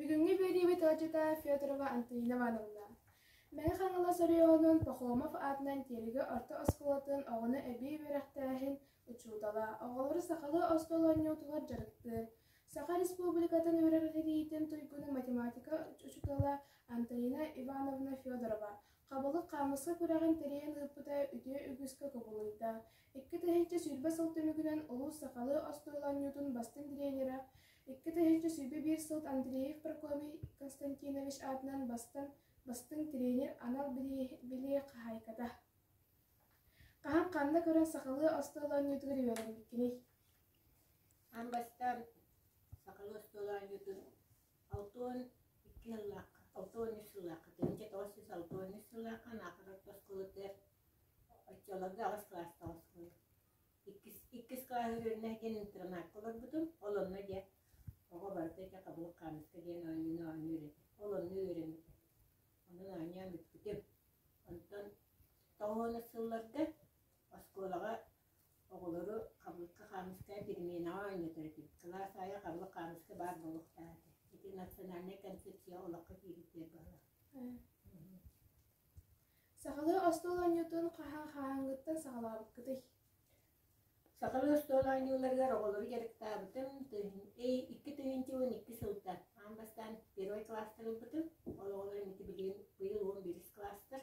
Бүгүҥҥү үөрүүбүт оҕаччыта Федорова Антонина Ивановна. Мэҥэ Хаҥалас оройуонун Пахомов аатынан Тиэлигэ орто оскуолатын оҕону эбии үөрэхтээһин учуутала, оҕолору сахалыы остуол оонньуутугар дьарыктыыр, Саха Республикатын үөрэҕинириитин туйгуну математика учуутала Антонина Ивановна Федорова, Хабылык хаамыска күрэҕин тэрийэн ыыппыта үтүө үгүскэ кубулуйда. Икки тыһыынча сүүрбэ сыл түмүгүнэн улуус сахалыы остуол оонньуутун бастыҥ дириэйдэрэ, икки тыһыынча сүүрбэ биир сыл Андреев Прокопий Константинович аатынан бастыҥ бастыҥ тренер анал билиэ хаһаайката. Хаһан ханна көрөн сахалыы остуол оонньуутугар үөрэбиккиний? Ам бастаан сахалыы остуол оонньуутун алта уон икки сыллаахха алта уон үс сыллаахха тыһыынча тоҕус сүүс алта уон үс сыллаахха анаахар орто оскуолатыгар оччолорго аҕыс кылаастаах оскуола иккис иккис кылаас үөрэнэ диэн интернакка олорбутум ол онно дьэ оҕо барыта дьэ хабылык хаамыска диэн оонньууну оонньуу үөрэтэ ол онно үөрэммитэ онон оонньоон бүппүтүм онтон тоҕуонус сылларга оскуолаҕа Оҕолору Хабылыкка Хаамыска переменаҕа оонньотор этим. Кылаас аайы Хабылык Хаамыска баар буолуохтаах этэ. Ити национальнай концепция олоххо киириттиэр баҕалаах. Сахалыы остуол оонньуутун хаһаа хааһыҥҥыттан саҕалаабыккытый? Сахалыы остуол оонньууларыгар оҕолору дьарыктаабытым. Тыһын- эй, икки тыһыынча уон икки сылта аан бастаан первый класстар ылбытым. Ол оҕолор ити билигин быйыл уон биэс кылаастар.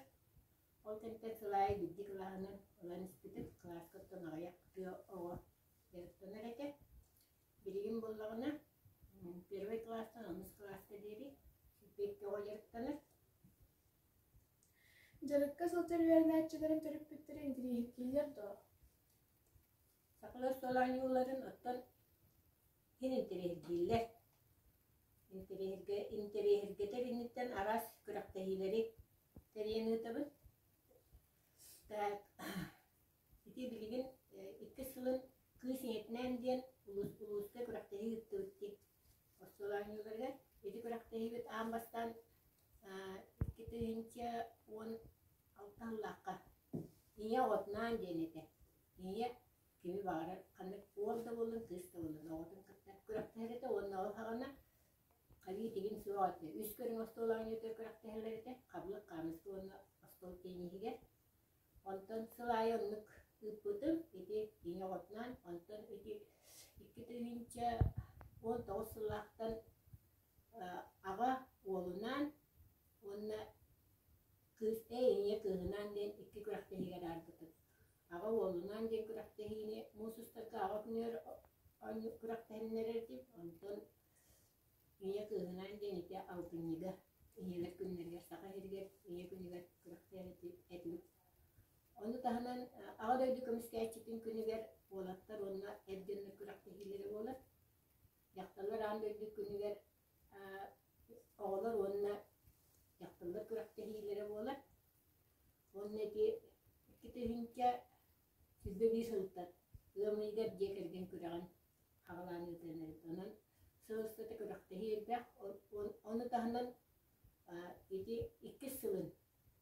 Ол кэнниттэн сыл аайы биирдии кылааһыны ылан испитим. Кылааска оттон аҕыйах тыа оҕо дьарыктанар этэ. Билигин буоллаҕына первый кылаастан онус кылааска диэри биирдэ оҕо дьарыктанар. Дьарыкка сылдьар үөрэнээччилэрим төрөппүттэрэ интириэһиргииллэр доо? Сахалар суол оонньууларын оттон интэриэһиргииллэр. Интэриэһиргэ, интэриэһиргэтэр инниттэн араас күрэхтэһиилэри тэрийэн ыытабыт. Так, ити билигин иккис сылын кыыс ийэтинээн диэн улуус, улууска күрэхтэһии ыыттыбыт дии. Остуолаанньыларыгар ити күрэхтэһиибит аан бастаан икки тыһыынча уон алта сыллаахха Ийэ оҕотунаан диэн этэ. Ийэ Кини баара ханнык уол да буоллун, кыыс да буоллун, оҕотун кытта күрэхтэһэр этэ уонна ол саҕана хайыы тигин суох этэ. Үс көрүҥ остуолаҕын үөтүгэр күрэхтэһэллэр этэ, хабылык, хаамыска уонна остуол тенниһигэр. Онтон сыл аайы оннук ыыппытым. Ити кини оҕотунаан, онтон ити икки тыһыынча уон тоҕус сыллаахтан аҕа уолунаан уонна кыыс, эй, ийэ кыыһынаан диэн икки күрэхтэһиигэ аарбытым. Аҕа уолунаан диэн күрэхтэһиини муус устарга аҕа күнүгэр күрэхтэһиннэрэр дип, онтон ийэ кыыһынаан диэн ити алтынньыга ийэлэр күннэригэр Саха сиригэр ийэ күнүгэр күрэхтэһэр этибит. Ону таһынан Аҕа дойду көмүскээччитин күнүгэр уолаттар уонна эр дьоннор күрэхтэһиилэрэ буолар. Дьахталлар аан дойду күнүгэр оҕолор уонна дьахталлар күрэхтэһиилэрэ буолар. Уонна ити икки тыһыынча сүүрбэ биир сылыттан ыам ыйыгар дьиэ кэргэн күрэҕин аҕалаан ыытыан Онон сыл устата күрэхтэһии элбэх. Ону таһынан ити иккис сылын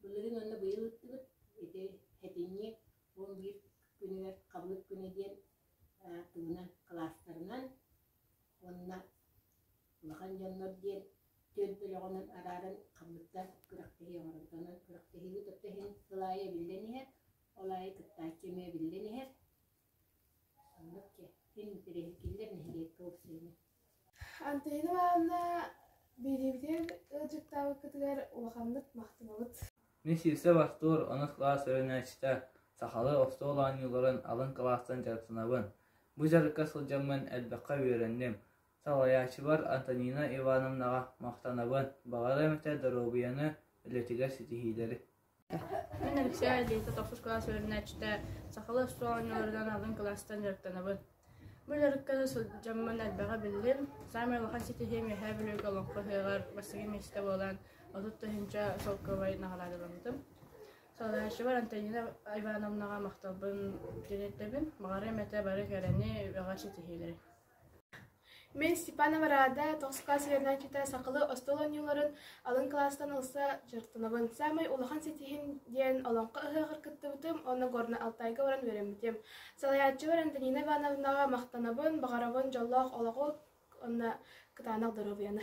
былырыын уонна быйыл ыыттыбыт ити этинньи уон биир күнүгэр хабылык күнэ диэн тугунан кылаастарынан Уонна улахан дьоннор диэн түөрт бөлөҕүнэн арааран хаммыттар күрэхтэһии оҥорбутунан күрэхтэһиигэ кытта иһин сыл аайы эбиллэн иһэр, ол аайы кыттааччы эмиэ эбиллэн иһэр. Оннук дьэ, син интэриэһи киллэр нэһилиэккэ уурсуйуну. Антонина Ивановна, биһириибитигэр ыалдьыттаабыккытыгар улаханнык махтанабыт. Мин сиирсэ вахтур, онус кылаас өрүнээччитэ, сахалыы остуол оонньууларын алын кылаастан дьарыктанабын. Бу дьарыкка сылдьаммын элбэххэ үөрэнним. Салайааччыбар Антонина Ивановнаҕа махтанабын. Баҕарам этэ доруобуйаны, үлэтигэр ситиһиилэри. Мин Алексей Лита, тохсус кылаас үөрэнээччитэ, сахалыы остуол оонньууларынан алын кылаастан дьарыктанабын. Бу дьарыкка да сылдьаммын элбэҕи биллим. Саамай улахан ситиһиим Үөһээ Бүлүүгэ олоххо иһигэр бастакы миэстэ буолан отут тыһыынча шелковай наҕараадаламмытым. Салайааччыбар Антонина Ивановнаҕа махталбын тириэрдэбин. Баҕарыам этэ бары кэрэни, үбэҕэ ситиһиилэри. Мин Степанова Рада тоско свернааччыта сахалыы остуол оонньууларын алын кылаастан ылса дьарыктанабын. Саамай улахан ситиһин диэн Олоҥхо ыһыаҕар кыттыбытым уонна Горнай Алтайга баран үөрэммитим. Салайааччыбар Антонина Ивановнаҕа махтанабын, баҕарабын дьоллоох олоҕу уонна кытаанах доруобуйаны.